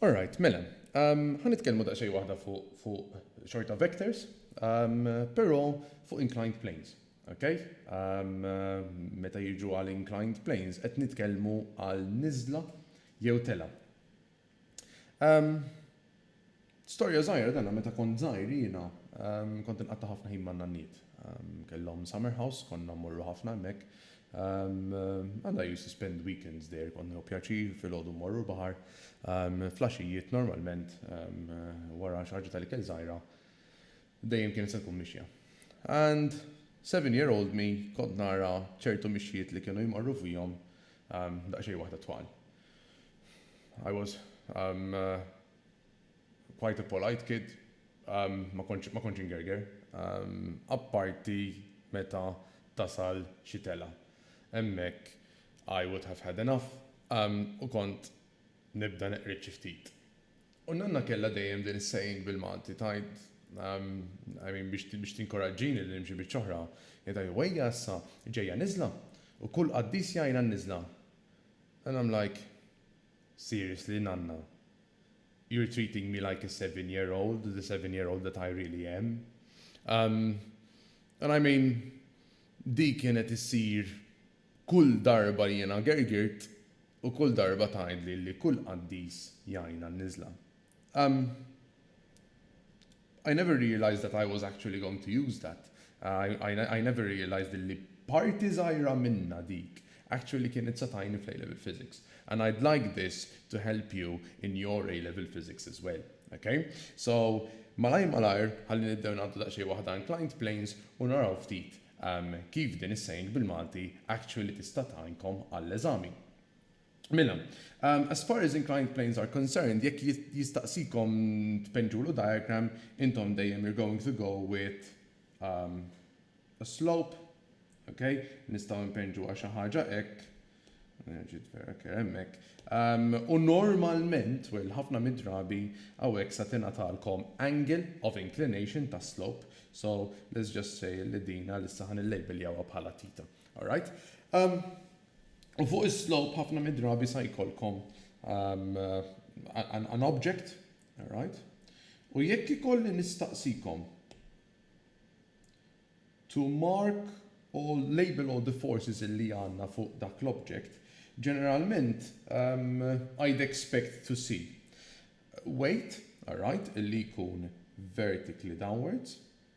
Alright, mela, ħan nitkellmu daqsxejn waħda fuq xorta vectors, però fuq inclined planes. Okay? Meta jiġu għal inclined planes, qed nitkellmu għal niżla jew tela. Ehm, Storja żgħira dana meta kont żgħir jiena ehm, kont inqatta' ħafna ħin man-nanniet. Ehm, kellhom summer house, konna mmorru ħafna hemmhekk. And I used to spend weekends there, kont nieħu pjaċir filgħodu mmorru l-baħar. Flaxijiet normalment wara xi ħaġa tal-ikel żgħira dejjem kienet se tkun mixja. And seven year old me kont nara ċertu mixjiet li kienu jmorru fihom daqsxejn waħda twal. I was um, quite a polite kid, um, ma kontx ingerger, um, apparti meta tasal xi telgħa. Hemmhekk I would have had enough um, u kont nibda neqred xi ftit. U Nanna kellha dejjem din is-saying bil-Malti tgħid, um, I mean biex tinkoraġġini li nimxi biċ-ċoħra, hi tgħid, Wejja issa, ġejja niżla, u kull qaddis jgħin għan-niżla. And I'm like, Seriously nanna? You're treating me like a seven year old, the seven year old that I really am? Umm, and I mean, dik kienet issir kull darba jiena gergirt u kull darba tgħidli li kull qaddis jgħin għan-niżla. Um I never realised that I was actually going to use that. I never realised illi parti żgħira minnha dik actually kienet se tgħinni fl-A-Level Physics. And I'd like this to help you in your A-Level Physics as well. Ok? So, malajr malajr, ħalli nibdew ngħaddu daqsxejn waħda inclined planes u naraw ftit um kif din is-saying bil-Malti actually tista' tgħinkom għall-eżami. Mela, as far as inclined planes are concerned, jekk jistaqsikom tpinġulu diagram, intom dejjem you're going to go with a slope, ok? Nistgħu npinġu għal xi ħaġa hekk, ġiet vera kera hemmhekk. U normalment, well, ħafna mid-drabi hawnhekk sa tingħatalkom angle of inclination ta' slope, so let's just say li din għalissa ħa nillejbeljawha bħala tita. Alright? U fuq is-slope ħafna mid-drabi sa jkollkom um, an, an object, right? U jekk ikolli nistaqsikom to mark all label all the forces li għanna fuq dak l-object, ġeneralment um, I'd expect to see weight, alright, illi jkun vertically downwards,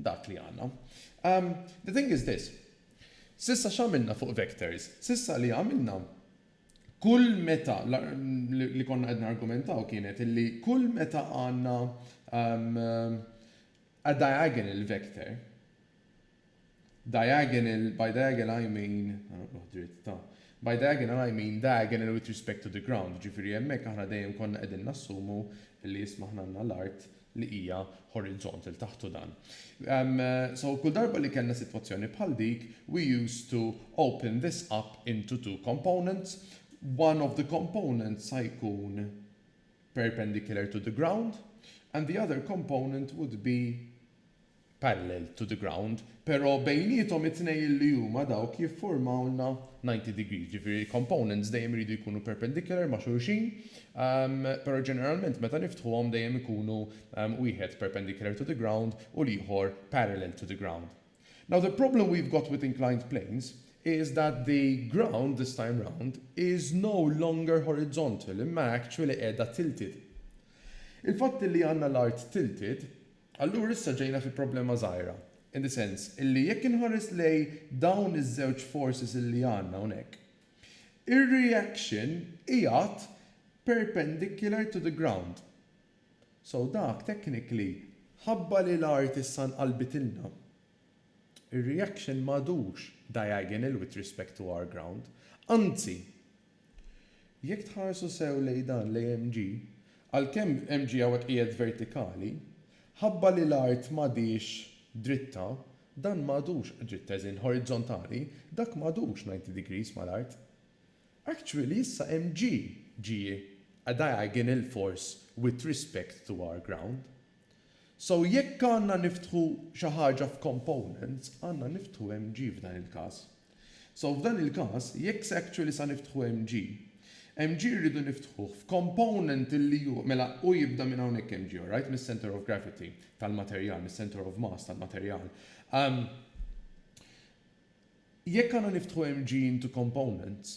dak li għandna. Umm, the thing is this, s'issa x'għamilna fuq vectors? S'issa li għamilna, kull meta, li konna qed nargumentaw kienet illi kull meta għandna umm a diagonal vector, diagonal, by diagonal I mean, ħa noqroh dritt, ta, by diagonal I mean diagonal with respect to the ground, jiġifieri hemmhekk aħna dejjem konna qegħdin nassumu illi isma' aħna għandna l-art li hija horizont 'il taħt u dan. So kull darba li kellna sitwazzjoni bħal dik we used to open this up into two components, one of the components sa jkun perpendicular to the ground and the other component would be parallel to the ground, pero bejniethom it-tnejn illi huma dawk jiffurmawlna ninety degrees, ġifieri components dejjem iridu jkunu perpendicular ma' xulxin, pero ġeneralment meta niftħuhom dejjem ikunu wieħed perpendicular to the ground u l-ieħor parallel to the ground. Now the problem we've got with inclined planes is that the ground this time round is no longer horizontal imma actually qiegħda tilted. Il-fatt illi għandna l-art tilted Allura issa ġejna fi problema żgħira, in the sense illi jekk inħares lejn dawn iż-żewġ forces illi għandna hawnhekk, ir-reaction qiegħed perpendicular to the ground. So dak technically, ħabba li l-art issa nqalbitilna, Ir-reaction m'għadux diagonal with respect to our ground. Anzi, jekk tħarsu sew lejn dan l-AMG, għalkemm MG hawnhekk qiegħed vertikali, ħabba li l-art m'għadhiex dritta, dan m'għadux dritt as in horizontali, dak m'għadux 90 degrees mal-art. Actually issa MG ġie a diagonal force with respect to our ground. So jekk għandna niftħu xi ħaġa f'components, għandna niftħu MG f'dan il-każ. So f'dan il-każ, jekk se actually sa niftħu MG, MG rridu niftħuh f'component li hu, mela hu jibda minn hawnhekk MG, alright, mis-centre of gravity tal-materjal, mis-centre of mass tal-materjal. Jekk għandna niftħu MG into components,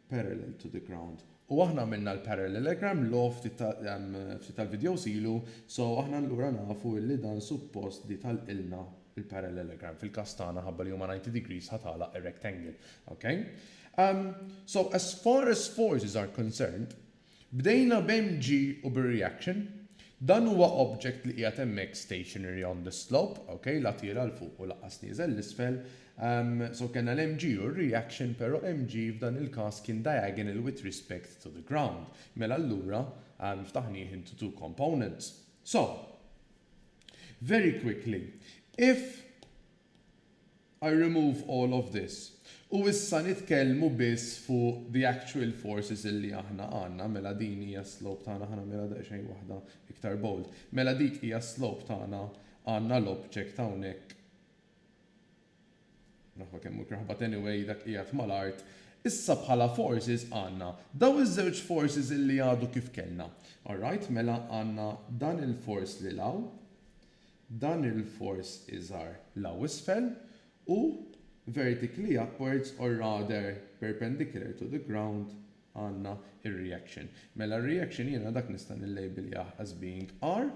parallel to the ground. U aħna għamilna l-parallelogram law ftit tal-vidjows ilu, so aħna allura nafu illi dan suppost di tagħlqilna l-parallelogram, fil-każ tagħna ħabba li huma 90 degrees ħa tagħlaq ir-rectangle. Ok? So as far as forces are concerned, Bdejna b'MG u bir-reaction. Dan huwa object li qiegħed hemmhekk stationary on the slope, ok, la tiela' 'l fuq u lanqas nieżel 'l isfel. So kellna l-MG u r-reaction, però MG f'dan il-każ kien diagonal with respect to the ground. Mela allura ftaħnieh into two components. So, very quickly, if I remove all of this. U issa nitkellmu biss fuq the actual forces illi aħna għandna, mela din hija s-slope tagħna, ħa nagħmilha daqsxejn waħda iktar bold, mela dik hija s-slope tagħna, għandna l-object hawnhekk, naħwa kemm hu kraħ but anyway dak qiegħed mal-art, issa bħala forces għandna dawn iż-żewġ forces illi għadu kif kellna. Alright, mela għandna dan il-force lil hawn, Dan il-fors iżgħar l hawn isfel hu vertically upwards or rather perpendicular to the ground għandna r-reaction. Mela r-reaction jiena dak nista' nillejbiljah as being R.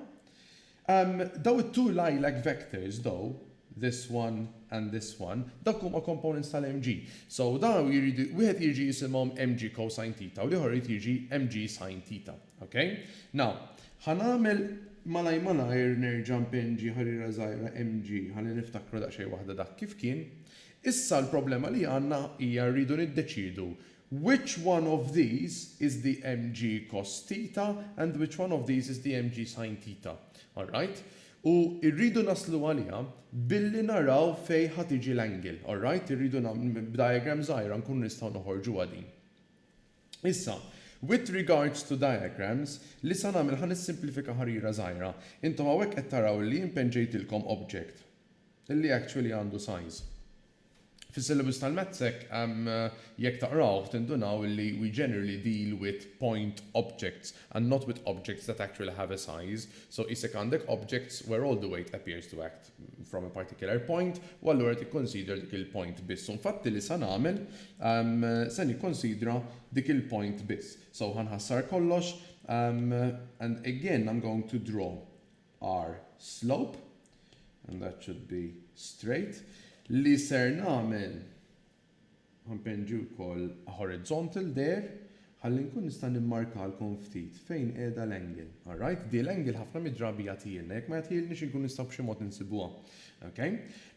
Dawn it-two lilac vectors though, this one and this one, dawk huma components tal-mg. So dawn jridu, wieħed irid jisimhom mg cosine theta u l-ieħor irid jiġi mg sine theta. Ok. Now, ħa nagħmel malajr malajr nerġa' npinġi ħarira żgħira MG ħalli niftakru daqsxejn waħda dak kif kien. Issa l-problema li għandna hija rridu niddeċiedu which one of these is the MG cos theta and which one of these is the MG sin theta. Alright? U rridu naslu għaliha billi naraw fejn ħa tiġi l-angle. Alright? Irridu nagħmlu b'diagram żgħira nkunu nistgħu noħorġuha din. Issa, with regards to diagrams, li sa nagħmel ħa nissimplifika ħarira żgħira. Intom hawnhekk qed taraw li jien penġejtilkom object li actually għandu size. Fis-syllabus tal-maths hekk jekk taqrawh tindunaw li we generally deal with point objects and not with objects that actually have a size. So qisek għandek objects where all the weight appears to act. from a particular point, u allura tikkonsidra dik il-point biss. U infatti li sa nagħmel, se nikkonsidra dik il-point biss. So ħa nħassar kollox, and again I'm going to draw our slope, and that should be straight, li ser nagħmel, Ħanpinġi wkoll horizontal there ħalli nkun nista' nimmarkalkom ftit fejn qiegħda l-angle. All right? Di l-angle ħafna mid-drabi jagħtihielna, jekk ma jagħtihielniex inkunu nistgħu b'xi mod insibuha. Ok?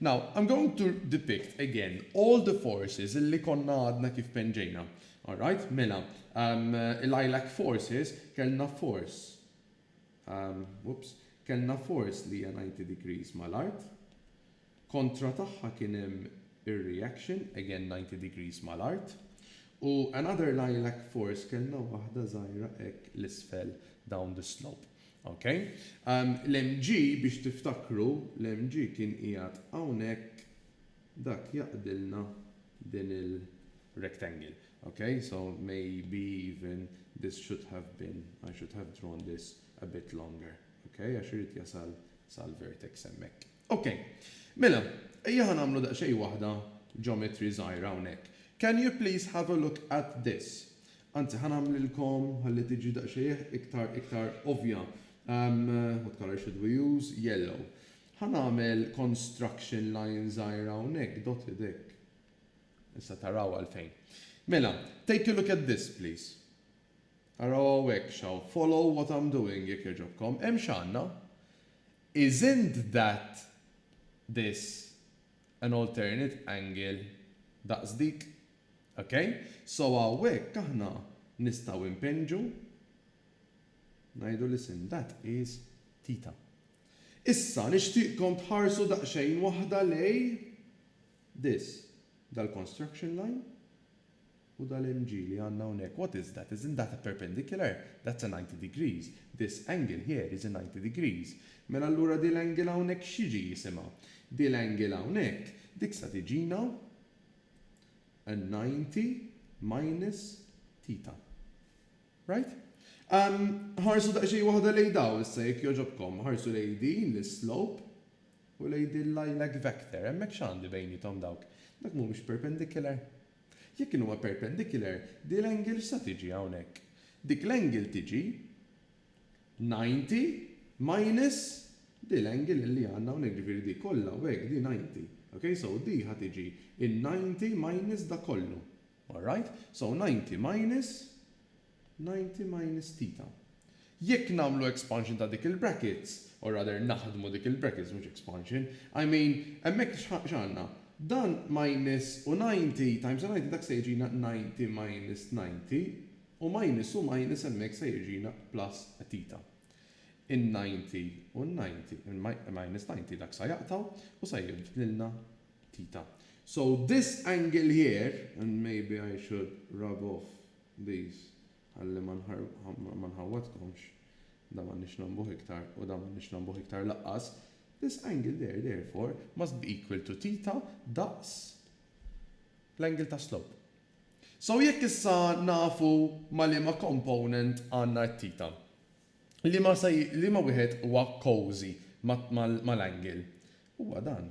Now, I'm going to depict again all the forces li konna għadna kif penġejna. All right? Mela, il-ILAC forces kellna force, oops, kellna force li hija 90 degrees mal-art, Kontra tagħha kien hemm ir-reaction, again ninety degrees mal-art, u another lilac force kellna waħda żgħira hekk 'l isfel down the slope. Ok? L-MG biex tiftakru, l-MG kien qiegħed hawnhekk, dak jaqdilna din il-rectangle. Ok? So maybe even this should have been, I should have drawn this a bit longer. Ok? Għax irid jasal sal-vertex hemmhekk. Ok. Mela, ejja ħa nagħmlu daqsxejn waħda geometry żgħira hawnhekk. Can you please have a look at this? Anzi, ħa nagħmlilkom ħalli tiġi daqsxejjeh iktar iktar ovvja. What colour should we use? Yellow. Ħa nagħmel construction line żgħira hawnhekk, dotted hekk. Issa taraw għalfejn. Mela, take a look at this, please. Araw hawnhekk x'hawn. Follow what I'm doing, jekk jogħġobkom. Hemm x'għandna? Isn't that this an alternate angle daqs dik? Ok? So hawnhekk aħna nistgħu npinġu ngħidu li sin that is theta. Issa nixtieqkom tħarsu daqsxejn waħda lejn this, dal-construction line. U dal-MG li għandna hawnhekk, what is that? Isn't that a perpendicular? That's a ninety degrees. This angle here is a ninety degrees. Mela allura dil angle hawnhekk x'jiġi jisimha? Dil angle hawnhekk, dik sa tiġina a ninety minus theta. Right? Umm, ħarsu daqsxejn waħda lejn dawn issa jekk jogħġobkom. Ħarsu lejn din l-islope u lejn din l-lilac vector. Hemmhekk x'għandi bejniethom dawk? Dawk mhumiex perpendicular? Jekk din huwa perpendicular, din l-angle x'sa tiġi hawnhekk? Dik l-angle tiġi 90 minus din l-angle li għandna hawnhekk, jiġifieri di kollha u hekk di 90. Ok, so di ħa tiġi n-90 minus dak kollu. Alright? So 90 minus 90 minus theta. Jekk nagħmlu expansion ta' dik il-brackets, or rather naħdmu dik il-brackets mhux expansion, I mean, hemmhekk x'għandna? Dan minus u 90 times u 90 dak se jiġina 90 minus 90 u minus u minus hemmhekk se jiġina plus theta. In-90 u n-90, minus 90 dak sa jaqtgħu u sa jibdlilna theta. So this angle here, and maybe I should rub off Bis, ħalli ma nħawwadkomx, dan m'għandniex nagħmbuh iktar, u dan m'għandniex nagħmbuh iktar lanqas, this angle there, therefore, must be equal to theta daqs l-angle ta' slope. So jekk issa nafu ma' liema component għandna t-theta, liema wieħed huwa cosy mal-angle? Huwa dan.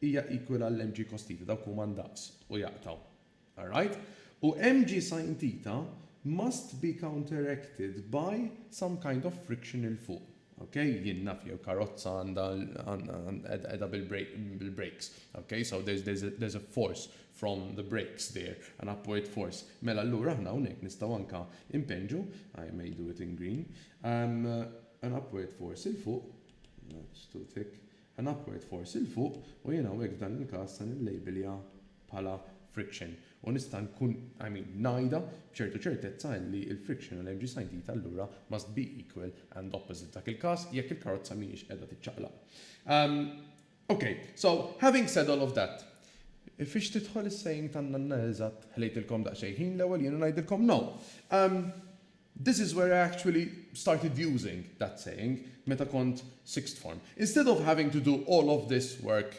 hija equal għal mg cos theta, dawk huma ndaqs u jaqtgħu. Alright? U mg sin theta must be counteracted by some kind of friction 'il fuq. Ok? Jien naf jew karozza għandha qiegħda bil-brakes. Ok? So there's a force from the brakes there, an upward force. Mela allura aħna hawnhekk nistgħu anke impenġu, I may do it in green, an upward force 'il fuq, that's too thick, An upward force 'il fuq u jien hawnhekk f'dan il-każ se nillejbilha bħala friction u nista' nkun, I mean, ngħidha b'ċertu ċertezza illi l-friction għal mg sin theta allura must be equal and opposite f'dak il-każ jekk il-karozza mhijiex qiegħda tiċċaqlaq. Umm ok, so having said all of that, fiex tidħol is-saying tan-nanna eżatt, ħlejtilkom daqsxejn ħin l-ewwel jien u ngħidilkom no. Umm. This is where I actually started using that saying meta kont sixth form. Instead of having to do all of this work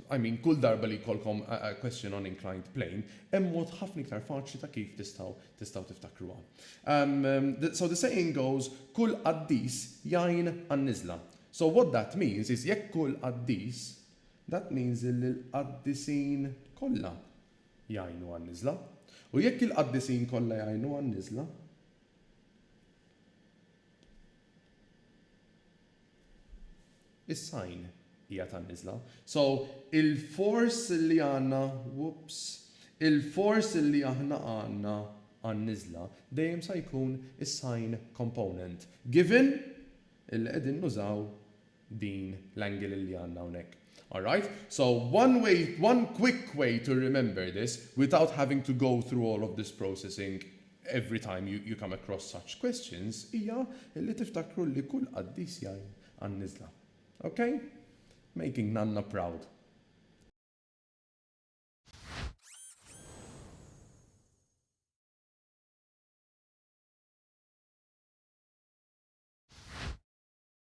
I mean kull darba li jkollkom a question on inclined plane, hemm mod ħafna iktar faċli ta' kif tistgħu tistgħu tiftakruha. So the saying goes kull qaddis jgħin għan-niżla. So what that means is jekk kull qaddis, that means illi l-qaddisin kollha jgħinu għan-niżla, u jekk il-qaddisin kollha jgħinu għan-niżla, is-sign hija tan-niżla. So, il-force li għandna, whoops, il-force li aħna għandna għan-niżla dejjem sa jkun is-sign component, given illi qegħdin nużaw din l-angle li għandna hawnhekk. Alright? So one way, one quick way to remember this without having to go through all of this processing every time you come across such questions hija li tiftakru li kull qaddis jgħin għan-niżla. Ok? Making nanna proud.